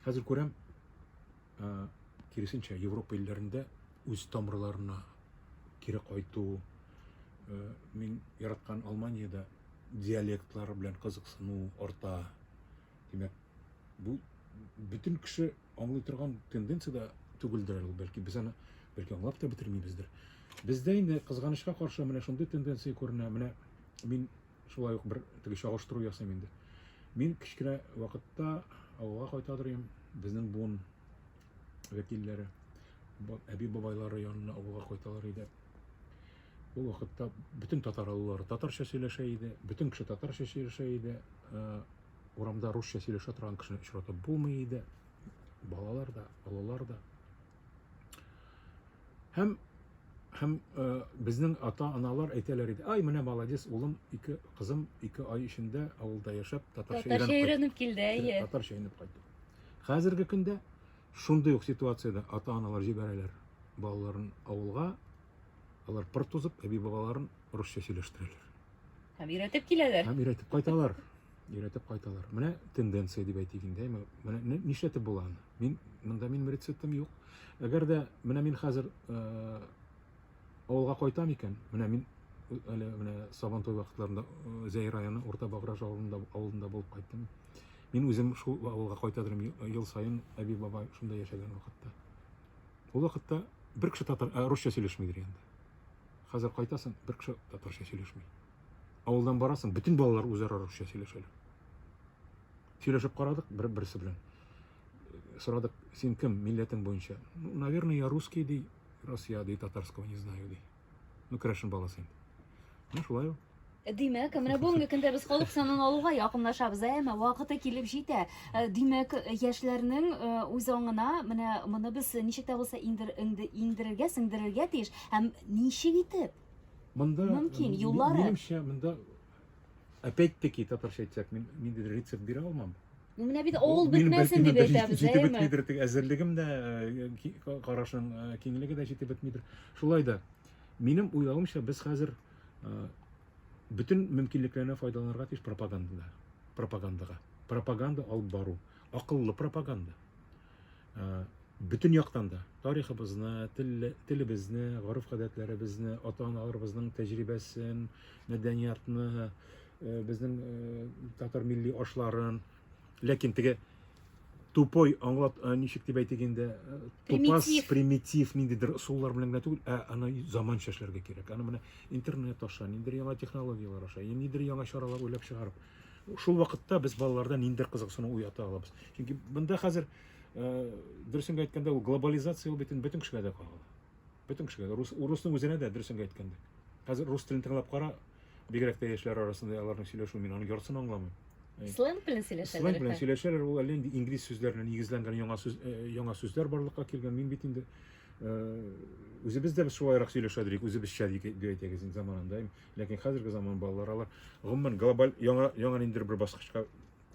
Хәзер күрәм, киресенчә, Европа илләрендә үз тамырларына кире кайту, мин яраткан Алманиядә диалектлар белән кызыксыну арта. Димәк, бу бөтен кеше аңлый торган тенденция дә түгелдер әле, бәлки без аны бәлки аңлап та бетермибездер. Бездә инде кызганычка каршы менә шундый тенденция күренә. Менә мин шулай ук бер теге чагыштыру ясыйм инде. Мин кечкенә вакытта авылга кайта торыйм, безнең буын вәкилләре, әби бабайлары янына авылга кайталар иде. Ул вакытта бөтен татар авыллары татарча сөйләшә иде, бөтен кеше татарча сөйләшә иде. Э, урамда русча сөйләшә торган кешене очратып булмый иде. Балалар да, олылар да. Һәм һәм э, безнең ата-аналар әйтәләр иде, ай менә молодец, улым, ике кызым ике ай эчендә авылда яшәп татарча Татарча өйрәнеп килде, әйе. Татарча өйрәнеп кайтты. Хәзерге көндә шундый ук ситуациядә ата-аналар җибәрәләр балаларын авылга, алар пыр тузып, әби-бабаларын русча сөйләштерәләр. Һәм өйрәтеп киләләр. Һәм өйрәтеп кайталар. өйрәтеп кайталар. Менә тенденция дип әйтик инде. Менә нишләтеп була аны? Мин монда минем рецептым юк. Әгәр дә менә мин хәзер э, авылга кайтам икән, менә мин э, әле менә Сабантой вакытларында э, Зәй районы Урта Баграж авылында авылында булып кайттым. Мин үзем шул авылга кайта торам ел саен әби бабай шунда яшәгән вакытта. Ул вакытта бер кеше татар русча сөйләшмидер инде. Хәзер кайтасың, бер кеше татарча сөйләшми. Авылдан барасың, бөтен балалар үзара русча сөйләшәләр. Сөйләшеп карадык бер берсе белән. Сорадык, син кем, милләтең буенча? Ну, наверное, я русский, ди, раз я, ди, татарского не знаю, ди. Ну, крәшен баласы инде. Ну, шулай ул. Димәк, менә бүгенге көндә без халык санын алуга якынлашабыз, әмма вакыты килеп җитә. Э, Димәк, яшьләрнең э, үз аңына менә моны без ничек тә булса индер- инде- иңдерергә, сеңдерергә тиеш. Һәм ничек итеп? Монда, Мөмкин, юллары. Минемчә, монда опять-таки татарча әйтсәк, мин ниндидер рецепт бирә алмам. Ну, менә бит авыл бетмәсен дип әйтәбез, әйеме? Җитеп бетмидер, тик әзерлегем дә, э, карашың э, киңлеге дә җитеп бетмидер. Шулай да, минем уйлавымча, без хәзер э, бөтен мөмкинлекләрне файдаланырга тиеш пропагандага. Пропагандага. Пропаганда алып бару. Акыллы пропаганда. бөтен яктан да тарихыбызны, телебезне, гореф-гадәтләребезне, ата-аналарыбызның тәҗрибәсен, мәдәниятны, безнең татар милли ашларын, ләкин теге тупой аңлат ничек дип әйтик инде тупас примитив ниндидер ысуллар белән генә түгел ә аны заманча эшләргә кирәк аны менә интернет аша ниндидер яңа технологияләр аша ниндидер яңа чаралар уйлап чыгарып Шул вакытта без балаларда ниндидер кызыксыну уята алабыз. Чөнки монда хәзер э, дөресен әйткәндә ул глобализация ул битен бөтен кешегә дә кагыла. Бөтен кешегә дә рус урысның үзенә дә дөресен әйткәндә. Хәзер рус телен тыңлап кара, бигрәк тә яшьләр арасында аларның сөйләшүен мин аның яртысын аңламыйм. Э, сленг белән сөйләшәләр. Сленг белән сөйләшәләр, ул әле инде инглиз сүзләренә нигезләнгән яңа сүз э, яңа сүзләр барлыкка килгән. Мин бит инде үзебез дә шулайрак сөйләшә идек, үзебезчә дип әйтәгез заманында. Ләкин хәзерге заман балалары алар гомумән глобаль яңа яңа ниндидер бер баскычка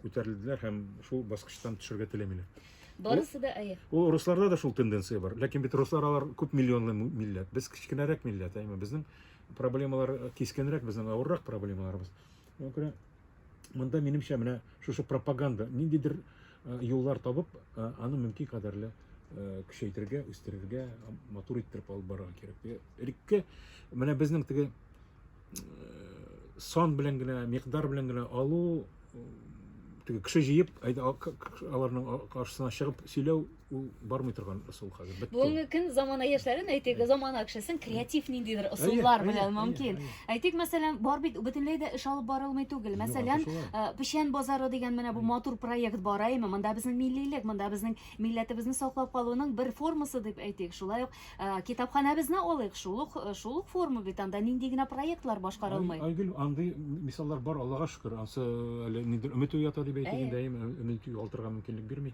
күтәрелделәр һәм шул баскычтан төшәргә теләмиләр. Барысы да әйе. Ул русларда да шул тенденция бар. Ләкин бит руслар алар күп миллионлы му- милләт. Без кечкенәрәк милләт, әйме. Безнең проблемалар э, кискенрәк, безнең авыррак проблемаларыбыз. Шуңа күрә монда минемчә менә шушы пропаганда ниндидер юллар табып, аны мөмкин кадәрле көчәйтергә, үстерергә, матур иттереп алып барырга кирәк. Элекке менә безнең теге сан белән генә, микъдар белән генә алу, теге кеше җыеп, аларның каршысына чыгып сөйләү ул бармый торган соң хәзер бетте. Бүгенге көн замана яшьләрен әйтик, замана кешесен креатив ниндидер ысуллар әйе, белән әйе, мөмкин. әйе. Әйтик, мәсәлән, бар бит бөтенләй дә эш алып барылмый түгел. Мәсәлән, шулай. э, Печән базары дигән менә бу матур проект бара име. Монда безнең миллилек, монда безнең милләтебезне саклап калуның бер формасы дип әйтик. Шулай ук э, китапханәбезне алыйк. Шул ук э, шул ук форма бит анда нинди генә проектлар башкарылмый. Ай- Айгөл, андый мисаллар бар, Аллага шөкер. Ансы әле нидер өмет уята дип әйтик Әйе. инде, әйеме, өмет югалтырга мөмкинлек бирми.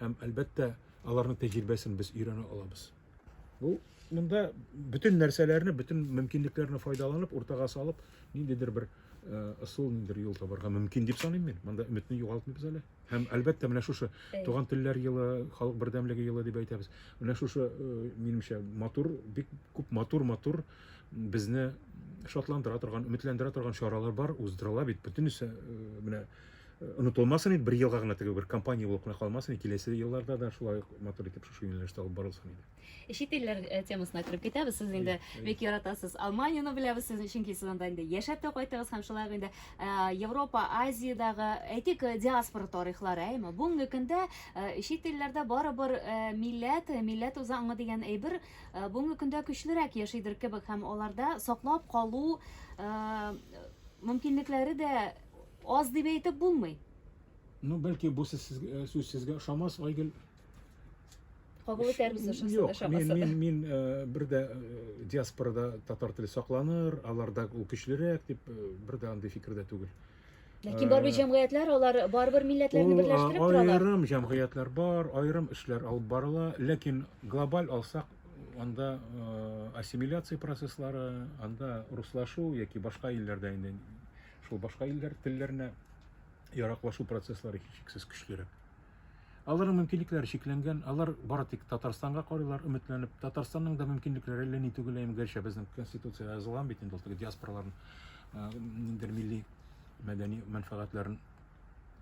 Һәм, әлбәттә, аларның тәҗрибәсен без өйрәнә алабыз. Бу монда бөтен нәрсәләрне, бөтен мөмкинлекләрне файдаланып, уртага салып, ниндидер бер ысул, ниндидер юл табарга мөмкин дип саныйм мин. Монда өметне югалтмыйбыз әле. Һәм, әлбәттә, менә шушы Туган телләр елы, халык бердәмлеге елы дип әйтәбез. Менә шушы, минемчә, матур, бик күп матур-матур безне шатландыра торган, өметләндерә торган чаралар бар, уздырыла бит. Бөтенесе менә онытылмасын иде, бер елга гына теге бер компания булып кына калмасын иде, киләсе елларда да шулай матур итеп шушы юнәлештә алып барылсын иде. Э, чит илләр э, темасына кереп китәбез. Сез инде бик яратасыз. Алманияны беләбез сезне, чөнки сез анда инде яшәп тә кайттыгыз һәм шулай ук инде э, Европа, Азиядагы, әйтик, диаспора тарихлары, әйме? Бүгенге көндә чит илләрдә барыбер милләт, милләт үзе аңы дигән әйбер бүгенге көндә көчлерәк яшидер кебек һәм аларда саклап калу мөмкинлекләре дә Аз дип әйтеп булмый. Ну, бәлки бу сүз сезгә, сүз сезгә ошамас, Айгөл. Кабул итәрбез ошасын, Юк, мин, ошамасын. мин, мин э, бер дә э, диаспорада татар теле сакланыр, аларда ул көчлерәк дип э, бер дә андый фикердә түгел. Ләкин барбер Э, җәмгыятьләр, алар барбер милләтләрне Ул, берләштереп а, торалар. Аерым җәмгыятьләр бар, аерым эшләр алып барыла, ләкин глобаль алсак, анда э, ассимиляция процесслары, анда руслашу яки башка илләрдә инде шул башка илләр телләренә яраклашу процесслары һичшиксез көчлерәк. Аларның мөмкинлекләре чикләнгән, алар бары тик Татарстанга карыйлар, өметләнеп. Татарстанның да мөмкинлекләре әллә ни түгел, әйм, гәрчә безнең конституция язылган бит инде ул теге диаспораларның э, ниндер милли мәдәни мәнфәгатьләрен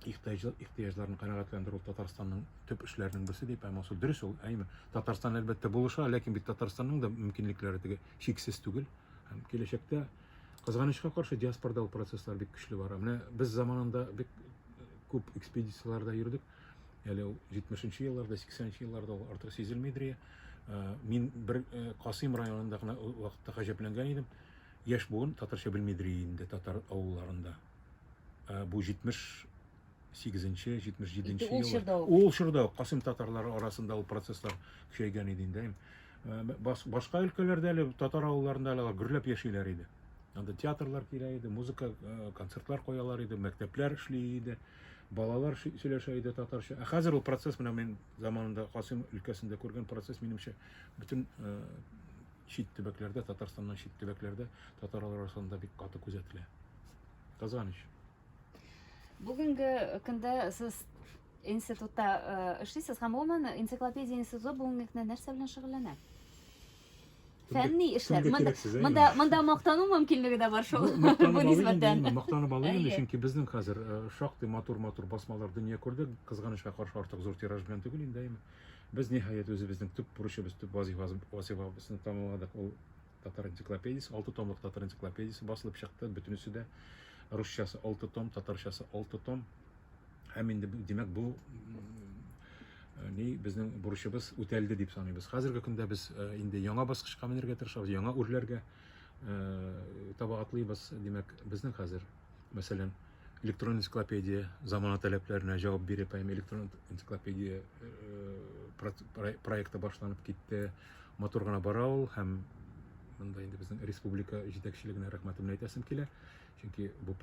ихтыяҗларын канәгатьләндерү Татарстанның төп эшләренең берсе дип һәм ул дөрес ул, әйме. Татарстан әлбәттә булыша, ләкин бит Татарстанның да мөмкинлекләре теге чиксез түгел. Һәм киләчәктә Кызганычка каршы, диаспорда ул процесслар бик көчле бара. Менә без заманында бик күп экспедицияләрдә йөрдек. Әле ул 70-нче елларда, 80-нче елларда ул артык сизелмидер. Мин бер Касыйм районында гына вакытта гаҗәпләнгән идем. Яшь буын татарча белмидер инде татар авылларында. Бу 70 78-77 ел ул чорда ук касыйм татарлары арасында ул процесслар көчәйгән иде инде башка өлкәләрдә әле татар авылларында әле гөрләп яшиләр иде анда театрлар килә иде музыка концертлар куялар иде мәктәпләр эшли иде балалар сөйләшә иде татарча ә хәзер ул процесс менә мин заманында касыйм өлкәсендә күргән процесс минемчә бөтен чит төбәкләрдә татарстаннан чит төбәкләрдә татарлар арасында бик каты күзәтелә кызганыч Бүгенге көндә сез институтта эшлисез һәм гомумән энциклопедия институты бүгенге көндә нәрсә белән шөгыльләнә? Фәнни эшләр. Монда монда монда мактану мөмкинлеге дә бар шул. Бу нисбәттән. Мактанып алу инде, чөнки безнең хәзер шактый матур-матур басмалар дөнья күрде. Кызганычка каршы артык зур тираж белән түгел инде, әйме. Без ниһаять үзебезнең төп бурычыбыз, төп вазифабызны тамамладык. Ул Татар энциклопедиясе, алты томлык татар энциклопедиясе басылып чыкты, бөтенесе дә. Русчасы алты том, татарчасы алты том. Һәм инде, димәк, бу э, ни безнең бурычыбыз үтәлде дип саныйбыз. Хәзерге көндә без э, инде яңа баскычка менергә тырышабыз, яңа үрләргә э, табагатлыйбыз. Димәк, безнең хәзер, мәсәлән, электрон энциклопедия замана таләпләренә җавап биреп һәм электрон энциклопедия э, проекты башланып китте матур гына бара ул һәм монда инде безнең республика җитәкчелегенә рәхмәтемне әйтәсем килә чөнки бу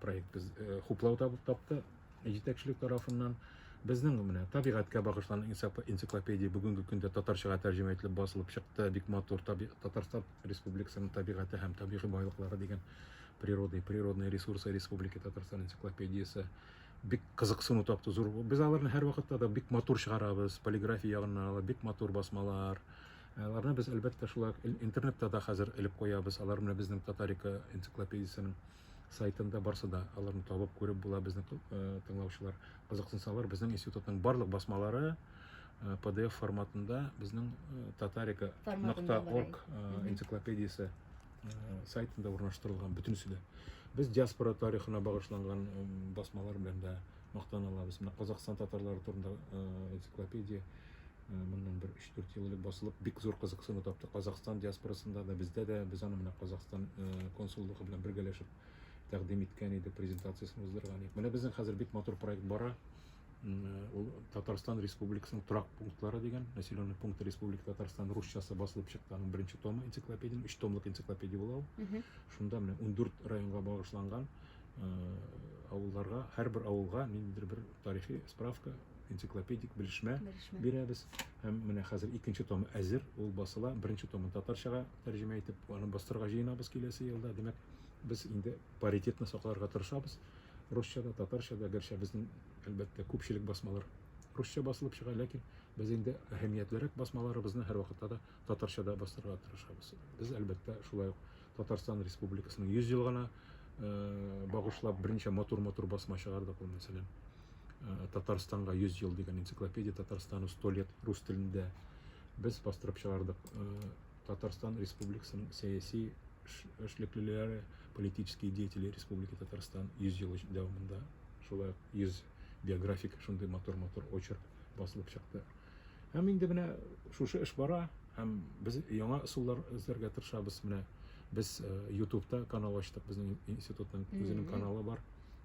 проект без э, хуплау тапты җитәкчелек тарафыннан безнең менә табигатькә багышланган энциклопедия бүгенге көндә татарчага тәрҗемә ителеп басылып чыкты бик матур татарстан Республикасының табигате һәм табигый байлыклары дигән природы, природные ресурсы Республики Татарстан энциклопедиясе бик кызыксыну тапты зур. Без аларны һәрвакытта да бик матур чыгарабыз, полиграфия ягыннан алып бик матур басмалар. Аларны без әлбәттә шулай интернетта да хәзер элеп куябыз. Алар менә безнең Татарика энциклопедиясенең сайтында барса да аларны табып күреп була безнең э, тыңлаучылар кызыксынсалар безнең институтның барлык басмалары э, pdf форматында безнең э, татарика нокта орг энциклопедиясе сайтында урнаштырылган бөтенесе дә без диаспора тарихына багышланган басмалар белән дә мактана алабыз менә казакстан татарлары турында энциклопедия Моннан бер өч-дүрт ел элек басылып, бик зур кызыксыну тапты Казакъстан диаспорасында да, бездә дә. Без аны менә Казакъстан консуллыгы белән бергәләшеп тәкъдим иткән идек, презентациясен уздырган идек. Менә безнең хәзер бик матур проект бара. Ул Татарстан Республикасының торак пунктлары дигән, населенные пункты Республики Татарстан русчасы басылып чыкты, аның беренче томы энциклопедиянең, өч томлык энциклопедия була ул. Шунда менә ундүрт районга багышланган авылларга, һәрбер авылга ниндидер бер тарихи справка, энциклопедик белешмә бирәбез. Һәм менә хәзер икенче томы әзер, ул басыла. Беренче томын татарчага тәрҗемә итеп, аны бастырырга җыенабыз киләсе елда. Димәк, без инде паритетны сакларга тырышабыз. Русча да, татарча да, гәрчә безнең, әлбәттә, күпчелек басмалар русча басылып чыга, ләкин без инде әһәмиятлерәк басмаларыбызны һәрвакытта да татарчада бастырырга тырышабыз. Без, әлбәттә, шулай ук Татарстан Республикасының 100 елгына багышлап берничә матур-матур басма чыгардык ул, мәсәлән, Татарстанга 100 ел дигән энциклопедия Татарстану 100 лет рус телендә без бастырып чыгардык. Татарстан Республикасының сәяси эшлеклеләре, политические деятели Республики Татарстан 100 ел дәвамында шулай 100 биографик шундый матур-матур очерк басылып чыкты. Һәм инде менә шушы эш бара, һәм без яңа ысуллар эзләргә тырышабыз. Менә без ютубта э, канал ачтык, безнең институтның үзенең каналы бар.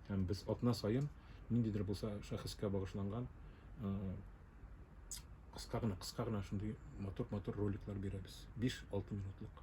Һәм без атна саен ниндидер булса шәхескә багышланган э, кыска гына, кыска гына шундый матур-матур роликлар бирәбез. 5-6 минутлык.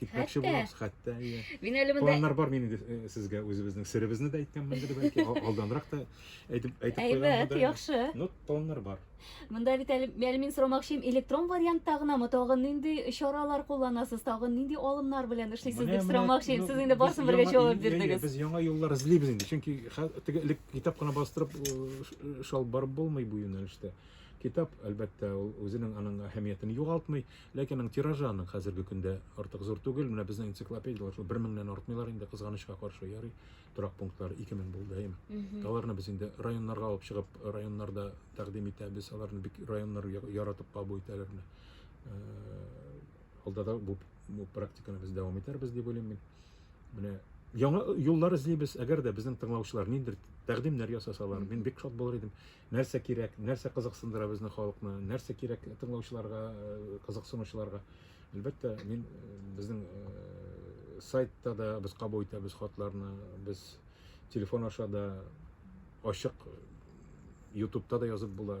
Китмәкче Хәтта? булабыз, хәтта, иә. Мин әле монда Планнар бар минем дә, э, сезгә үзебезнең серебезне дә әйткәнмендер, бәлки, ал- алданрак та әйтеп әйтеп Әйбәт, куйганмын да. яхшы. Ну, планнар бар. Монда бит әле, әле мин сорамакчыйм, электрон вариантта гынамы, тагын нинди чаралар кулланасыз, тагын нинди алымнар белән эшлисез Менә, дип менә, сорамакчыйм. ну, Сез инде без барсын бергә яңа- җавап иә, иә, бирдегез. Без яңа юллар эзлибез инде, чөнки хә- теге элек китап кына бастырып э, ш- э, шалып барып булмый бу юнәлештә. Китап, әлбәттә, ул үзенең аның әһәмиятен югалтмый, Ләкин аның тиражы аның хәзерге көндә артык зур түгел. Менә безнең энциклопедияләр шул 1000-нән артмыйлар инде, кызганычка каршы ярый. Торак пунктлары 2000 булды, әйме. Аларны без инде районнарга алып чыгып, районнарда тәкъдим итәбез. Аларны бик районнар яратып кабул итәләр менә. Алда да бу, бу практиканы без дәвам итәрбез дип уйлыйм мин. Менә яңа юллар эзлибез. Әгәр дә безнең тыңлаучылар ниндидер тәкъдимнәр ясасалар, мин бик шат булыр идем. нәрсә кирәк, нәрсә кызыксындыра безнең халыкны, нәрсә кирәк тыңлаучыларга, кызыксынучыларга. Әлбәттә, мин безнең сайтта да без кабул итәбез хатларны, без телефон аша да ачык, ютубта да язып була,